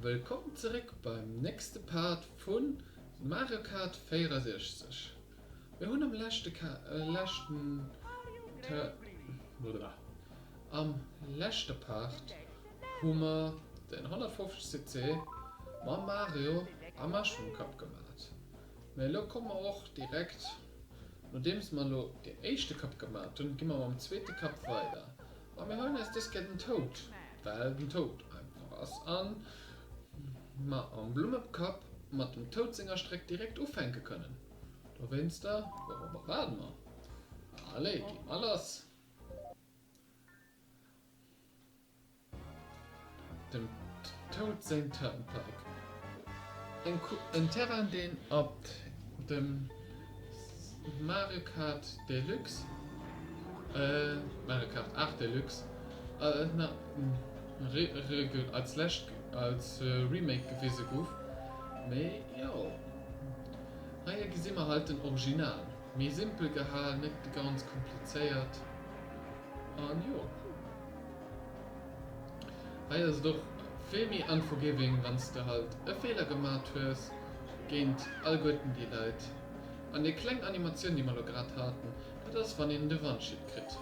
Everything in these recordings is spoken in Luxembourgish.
Wëllkomm zeréck beim nächste Part vu Mario Kart 64. Mir hunn am leschten Am leschte Part hu mer den 150cc mam Mario a Mushroom Cup gemat. Mä elo komme mer och direkt, nodeems mer elo deen éischte Kapp gemat hunn, gi mer mam zweete Kapp weider. A mir holen eis dës Kéier den Toad, well den Toad einfach ass a mer am Blummekapp mat dem Toad senger Stréck direkt ufänke kënnen. Dowéinster, wourobber waarde mer? Allez, gi mer lass! Dem Toad säin Turnpike. En Terrain deen op dem Mario Kart Deluxe, Mario Kart 8 Deluxe, als lescht als Remake gewise gouf. Mee jo, hei gesi mer halt den Original, méi simpel gehalen, net ganz komplizéiert an jo. Hei ass et och vill méi unforgiving wanns de halt e Feeler gemat hues géint allguerten déi Leit. An déi kleng Animatioun déi mer lo grad haten, dat ass wann een de Wandschiet kritt.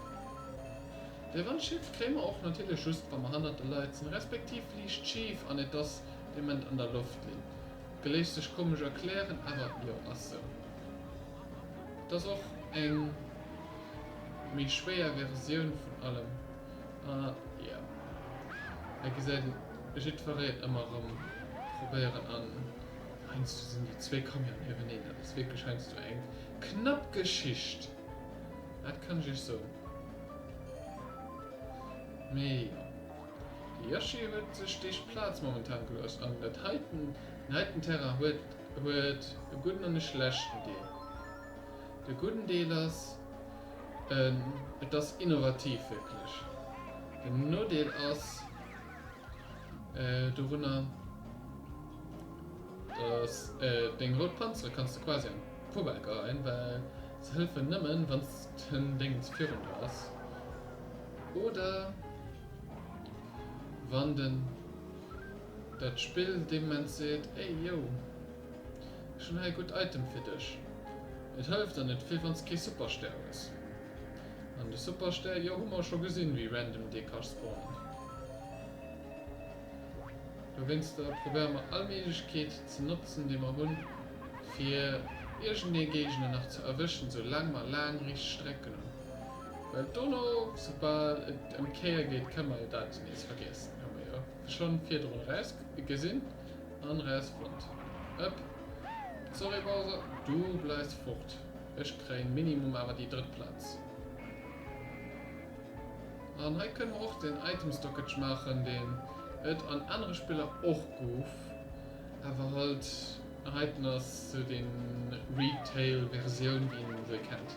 De Wandschiet kréie mer och natierlech just wa mer hannert de Leit sinn, respektiv liicht schif an et ass dee Moment an der Loft. Linn, geléscht sech komesch erklären, awer jo ass sou. Et ass och eng méi schwéier Versioun vun allem. A jo, hei gesäit ee jiddwereen ëmmer erëm probéieren an heiansdo sinn déi zwee Camionen nieweeneen, dat ass wierklech heiansdo eng knapp Geschicht, dat kann ech iech soen. Mee jo, de Yoshi huet sech deeg Plaz momentan gelooss an dat heiten, den heiten Terrain huet Huet e gudden an e schlechten Deel. De gudden Deel ass, et ass innovativ, wierklech. Den Nodeel ass dorunner, datt deng rout Panzere kanns de quasi an d'Poubelle geheien, well se hëllefen nëmmen, wann den Déngens virun der ass oder wann de Dat Spill deements seet, Ey yo, ech hunn hei e gutt Item fir dech. Et hëlleft an net vill wann s kee Superstär hues. An de Superstär, jo, hu mer scho gesinn, wéi random dee ka spawnen. Dowéinster probéiere mer all Méiglechkeet ze notzen, déi mer hunn, fir iergendee Géigner nach ze erwëschen, sou laang mer laang riicht Strecken hunn. Well dono, soubal et ëm d'Kéier geet, kënne mer jo dat nees vergiessen, hu mer jo. Schon virdrun raus gesin an raus fonnt. Ëpp, sorry Bowser, du bleis fort. Ech kréien minimum awer déi drëtt Platz. An hei kënnen mer och den Item Stockage maachen, deen ët an anere Spiller och gouf, awer halt heiten ass sou den Retail Versioun wéi een se kennt.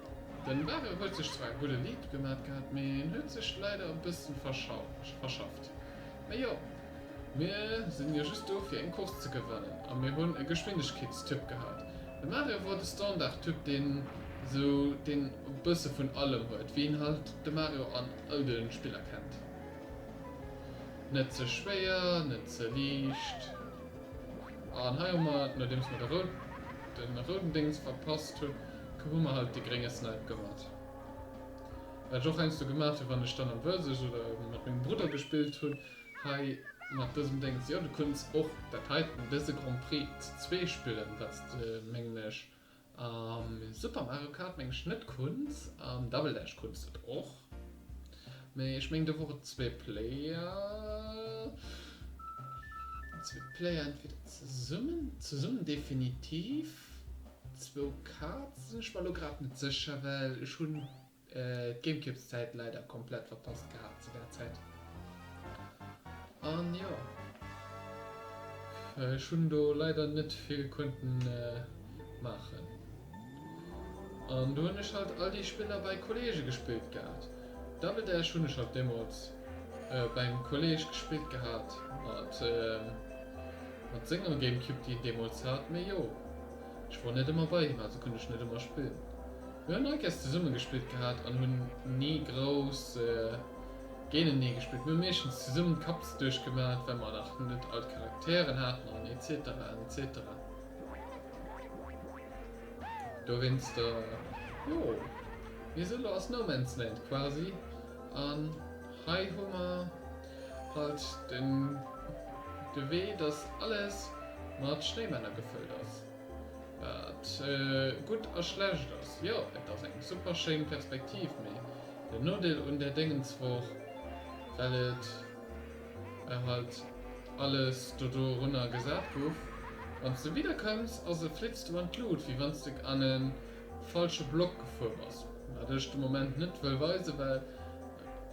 Den Barre huet sech zwar e gudde Lead gemat gehat, mee en huet sech leider e bëssen verschafft. Mee jo, mir sinn jo just do fir eng Course ze gewannen a mir hunn e Geschwindegkeetstyp gehat. De Mario wor de Standardtyp deen esou deen e bësse vun allem huet, wéi een halt de Mario an all de Spiller kennt, net ze schwéier, net ze liicht. An hei hu mer, nodeems mer de rouden Déngs verpasst hunn, hu mer halt dee grénge Snipe gemat. Wat ech och heiansdo gemat hunn, wann ech dann am Versus oder mat mengem Brudder gespillt hunn, hei mat dësem Déngs. Jo, du kunns och dat heiten, dëse Grand Prix, ze zwee spillen, wat s de, mengen ech, Super Mario Kart meng ech net Kunz an Double Dash Kunz et och mee ech meng do wor et zwee Player zwee Player entweder zesummen zesummen definitiv zwou Kaarten sinn ech mer lo grad net sécher well ech hunn D'Gamecubes Zäit leider komplett verpasst gehat zu där Zäit an jo ech hunn do leider net vill konnten maachen an do hunn ech halt all déi Spiller bei Kollege gespillt gehat. Double Dash hunn ech halt deemols beim Kolleg gespillt gehat mat mat senger Gamecube déi en deemols hat mee jo ech wor net ëmmer bei him also konnt ech net ëmmer spillen. Mir hunn nei Käst zesumme gespillt gehat an hunn ni grouss géinenee gespillt. Mir hu meeschtens zesummen d'Kapps duerch gemat, well mer nach net all d'Charakteren haten an etc an etc. Dowéinster, jo, mee esou elo ass No Man's Land quasi an hei hu mer halt de Wee, dass alles mat Schnéimänner gefëllt ass. Wat gutt a schlecht ass? Jo, et ass eng super schéin Perspektiv, mee den Nodeel un där Déngens wor, well et war halt alles do dorunner gesat guff, wanns de wieder kënns a se flitzt du an d'Luut, wéi wanns de an e falsche Block gefuer bass. Wat ech de Moment net wëll weisen, well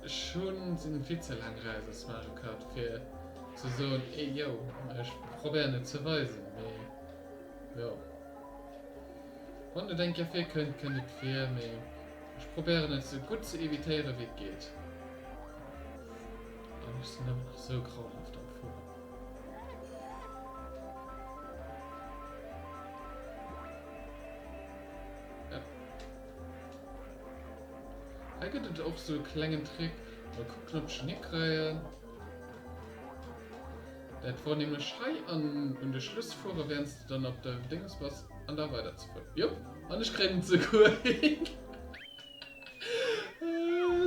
ech hu sinn vill ze laang raus aus Mario Kart fir ze soen, eh yo, ech probéieren et ze weisen, mee. Jo. Wann et eng Kéier virkënnt, kënnt et vir, mee ech probéieren et sou gutt ze evitéieren, wéi et geet. Dann ass se nëmmen nach sou grauenhaft am Fueren. Hei gëtt et och sou e klengen Trick. Mol kucken, ob ech en hikréien. Dat wor nämlech hei an un de Schluss fuere währends de dann op de Dinges bass an da weider ze fueren. Jop an ech kréien et seguer hin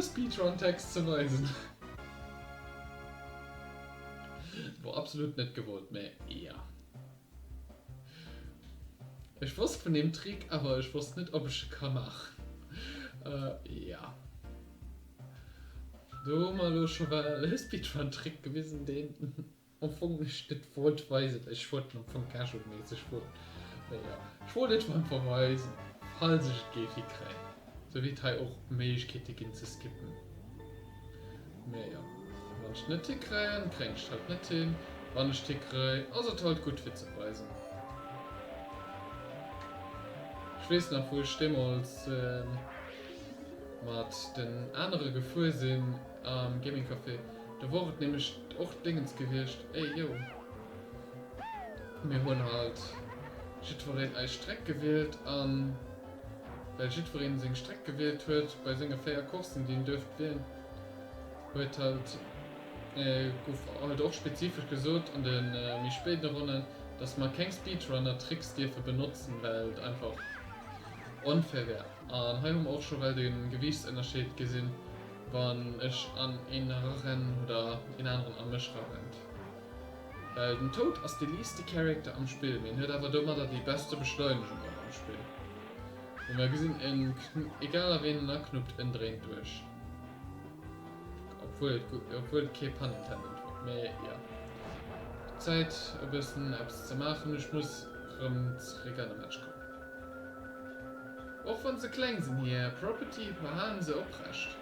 Speedrun Text ze weisen. Wor absolut net gewollt, mä ja. Ech wosst vun deem Trick, awer ech wosst net op ech e ka maachen. Jo. Do hu mer elo scho well e Speedrun Trick gewisen deen am Fong ech net wollt weisen. Ech wollt en am Fong casual méisseg wol, mee jo. Ech wollt et emol einfach weisen, falls ech et géif hikréien. Sou wier et hei och Méiglechkeete ginn ze skippen, mee jo, wann ech net hikréien, kréien ech et halt net hin, wann ech et hikréi, ass et halt gutt fir ze weisen. Ech weess nach wou ech deemools mat den anere gefuer sinn am Gaming Café, do wor et nämlech och Déngens gewiescht, ey yo, mir hunn halt jiddwereen eis Streck gewielt an. Well jiddwereen seng Streck gewielt huet bei senge 4 Coursen déi en duerft wielen huet halt gouf halt och spezifesch gesot an de méi spéiden Ronnen dass mer keng Speedrunner Tricks dierfe benotzen well et einfach onfair wär. An hei hu mer och scho well de Gewiichtsënnerscheed gesinn wann ech an een era rennen oder een aneren a mech era rennt. Den Toad ass de liiste Character am Spill, mee en huet awer domadder déi beste Beschleunegung och am Spill. Wéi mer gesinn en egal a ween en aknuppt, en dréint duerch. Obwuel obwuel et kee Pun intended war, mee jo. Zäit e bëssen eppes ze maachen, ech muss rëm zeréck an de Match kommen. Och wann se kleng sinn, hir Property behalen se oprecht.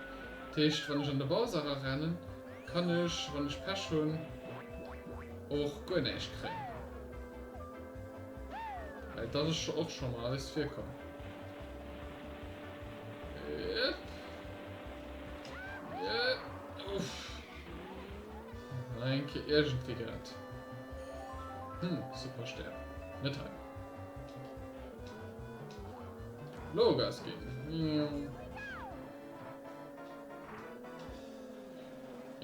Dat heescht wann ech an de Bowser erarennen, Kann ech, wann ech Pech hunn, och guer näischt kréien? Well dat ass och scho mol alles virkomm. Enke iergendwéi grad. Hm, super Stär. Net hei. Lo Gas ginn.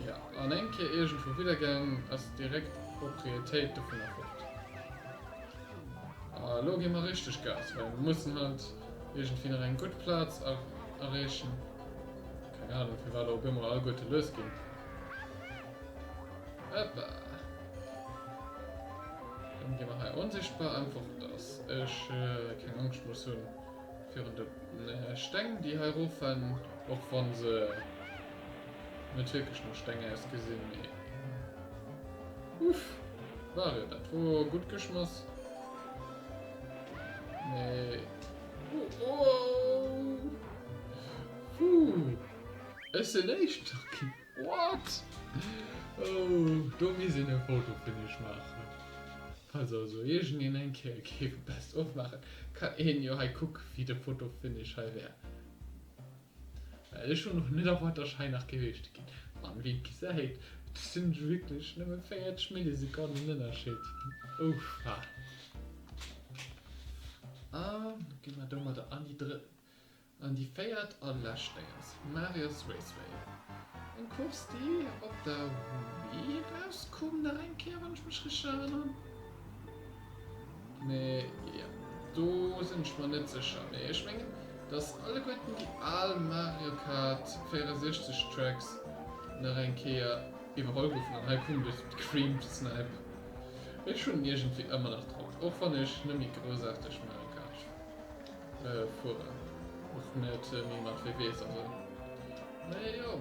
Jo, an eng Kéier iergendwou widder gaang, ass direkt d'Propriétéit dovunner fort. A lo gi mer richteg Gas, well mer mussen halt iergendwéi nach eng gutt Plaz erreechen. Keng Anung, firwat op eemol alleguerte lues ginn. Hoppa! Dann gi mer hei onsichtbar, einfach, dass ech keng Angscht muss hunn. Virun de Steng déi hei rof rennen, och wann se net wierklech no Steng ausgesinn, mee uff Mario dat wor gutt geschmoss, mee wouuuh ech sinn éischter ginn what, oh do misst een e Foto vun iech maachen. Falls also iergendeen eng Kéier géif e Best of maachen, kann een jo hei kucken, wéi de Fotofinish hei wär. Well ech hunn och net erwaart, dass ech hei nach géif Éischte ginn. An wéi et gesäit, do sinn ech wierklech nëmme 40 Millisekonnen Ënnerscheed. Ou schwach. A ginn mer domadder an déi drëtt. An déi véiert a lescht Dénges, Marius Raceway. Eng Course déi op der Wii erauskoum nach eng Kéier, wann ech mech richteg erënneren. Mee jo, do sinn ech mer net sécher. Mee ech mengen, datt alleguerten déi al Mario Kart 64 Tracks nach eng Kéier iwwerholl goufen. An hei kuckt eis d'Cream Snipe. Ech hunn iergendwéi ëmmer nach drop, och wann ech net méi groussarteg Mario Kart spillen. Fueren och net méi mat WWs an sou. Mee jo,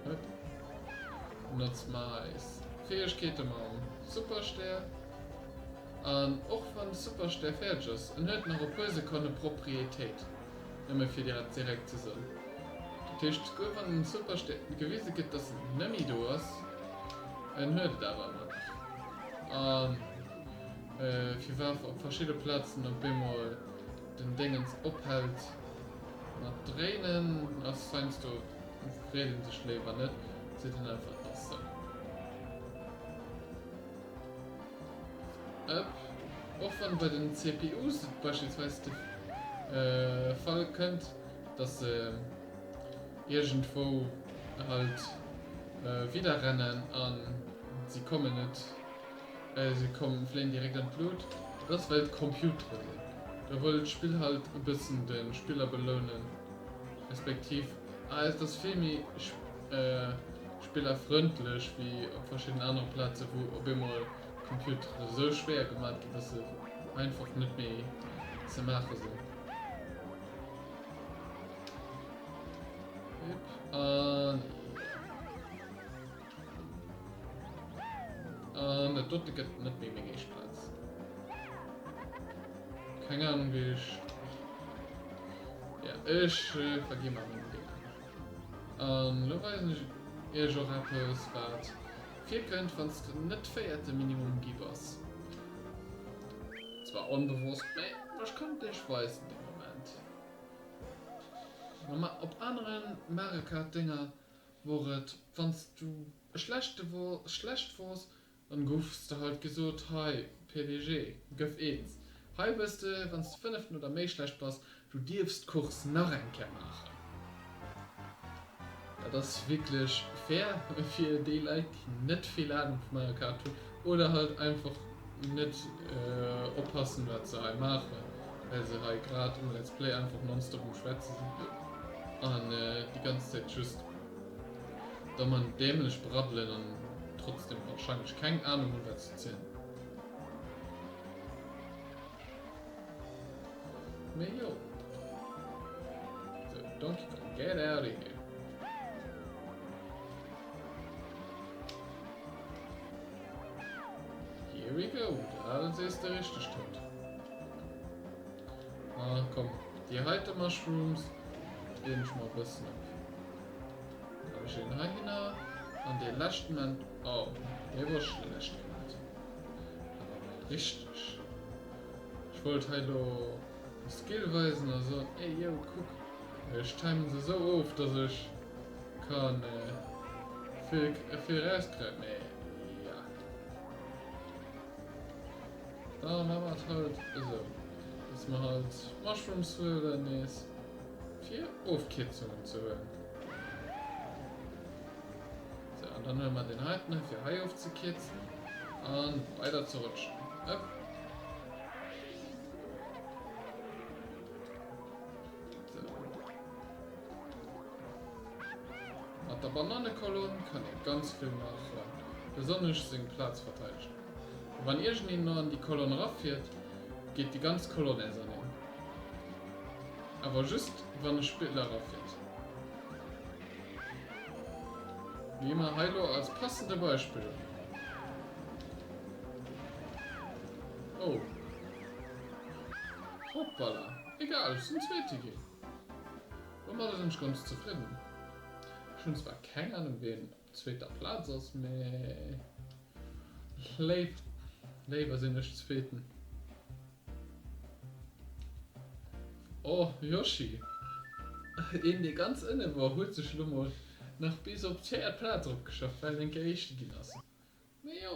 huet notzt mer eis Fäegkeete mam Superstär. An och wann de Superstär fäerdeg ass, en huet nach e puer Sekonne Proprietéit, nëmme fir dir direkt ze soen. Dat heescht, souguer wann de Superstär gewise gëtt, dass en net méi do ass, en huet et awer ëmmer nach. An firwat op verschidde Platzen op eemol den Déngens ophällt mat dréinen ass heinsdo freet een sech léiwer net, seet een einfach et ass sou. Ëpp. Och wann bei den CPUs et beispillsweis de Fall kënnt dass se iergendwou halt widderrennen an se kommen net, Se kommen, fléien direkt an d'Lut. Dat ass well d'Computere sinn. Da wëll d'Spill halt e bëssen de Spiller belounen, respektiv et ass vill méi spillerfrëndlech wéi op verschiddenen anere Plazen, wou op eemol d'Computere sou schwéier gemat ginn, dass se einfach net méi ze maache sinn. An jo. An dat dote gëtt net méi meng éischt Plaz. Keng Ahnung wéi ech. Ja, ech vergi mer meng Feeler. An elo weisen ech iech och eppes, wat virkënnt, wann s de net véierte Minimum gi bass. Zwar onbewosst, mä ech kann et iech weisen dee Moment. Op anere Mario Kart Dénger. wor et, wann s du e schlechte wor, schlecht wors, dann gouf s de halt gesot, hei, PWG, gëff eens. Hei wëss de, wann s de fënneften oder méi schlecht bass, du dierfs d'Course nach eng Kéier maachen. Dat ass wierklech fair fir déi Leit, déi net vill Ahnung vu Mario Kart hunn. Oder halt einfach net oppassen wat se hei maachen, well se hei grad um Let's Play einfach nonstop um schwätze sinn an déi ganz Zäit just doman dämlech braddelen an trotzdem wahrscheinlech keng Ahnung hunn wat se zielen. Mee jo. Sou Donkey Kong get outta here. Here we go, de Alex aess de richteg Tënt. Ah komm, déi heite Mushrooms deen ech mer e bëssen op. Leg ech een heihinner an dee leschten en. Oh, dee wor schlecht gemat, awer mol richteg. Ech wollt hei elo e Skill weisen a soen, ey yo, kuck, ech timen se esou of, dass ech. Kann e viraus kréien? Nee, ja. Da maache mer et halt esou, dass mer halt d'Mushrooms huelen nees, fir Ofkierzungen ze huelen. Sou, an dann huele mer deen heiten hei, fir hei ofzekierzen a weider ze rutschen. Hëpp. Mat der Banannekolonn kann ee ganz vill maachen, besonnesch seng Plaz verteidegen. A wann iergendeen no an déi Kolonn erafiert, geet déi ganz Kolonn nees an hien. Awer just wann e Spiller erafiert. Wéi mer hei elo als passende Beispill. Oh. Hoppala. Egal, ech sinn Zweete ginn. Domadder sinn ech ganz zefridden. Ech hunn zwar keng Ahnung wien op zweeter Plaz ass, mee léif, léiwer sinn ech zweeten. Oh Yoshi, een dee ganz ënne wor huet sech lo mol nach bis op d'véiert Plaz eropgeschafft well en Kéier éischte ginn ass. Mee jo.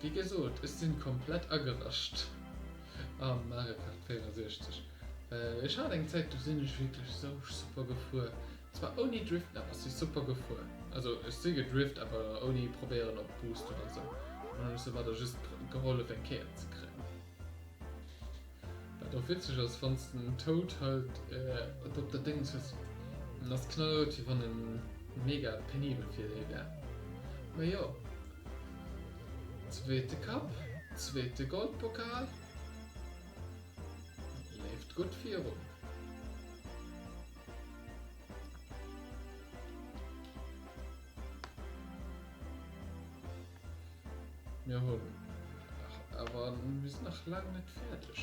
Wéi gesot, ech sinn komplett agerascht am Mario Kart 64, well ech hat eng Zäit do sinn ech wierklech sou super gefuer, zwar ouni driften awer ech si super gefuer, also ech si gedrift awer ouni probéieren op boost oder sou, an hunn ech soumadder just gehollef eng Kéier ze kréien. Wat och witzeg ass, wanns de den Toad halt et op der Déngs hues, en ass knallrout wéi wann en mega penibel fir dee wär. Mee jo, zweete Cup, zweete Goldpokal, leeft gutt virun. Mir hunn awer mir sinn nach laang net fäerdeg.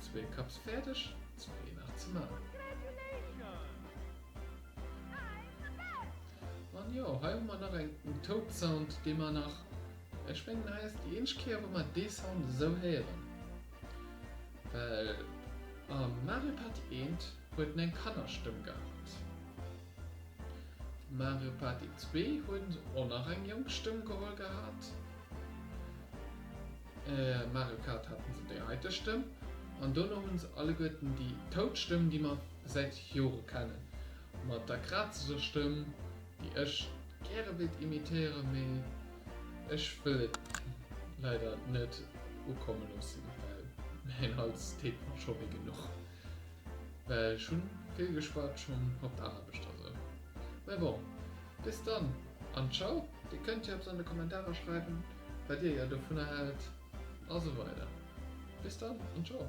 Zwee Cups fäerdeg, zwee nach ze maachen. An jo, hei hu mer nach eng Toad Sound, dee mer nach, ech mengen hei ass déi eenzeg Kéier wou mer dee Sound esou héieren, well am Mario Party eent huet en eng Kannerstëmm gehat. Mario Party 2 huet och nach eng jonk Stëmm geholl gehat. Mario Kart haten se déi heite Stëmm an dono hunn se alleguerten déi tout Stëmm déi mer säit Jore kennen mat der krazeger Stëmm déi ech gäre wéilt imitéieren mee ech wëll et leider net ukomme loossen well mäin Hals deet mer scho wéi genuch. Well ech hunn vill geschwat schonn op d'Aarbecht a sou. Mä bon, bis dann an Ciao! Dir kënnt jo eppes an de Kommentarer schreiwen, wat Dir jo dovunner hält a sou weider. Bis dann an Ciao!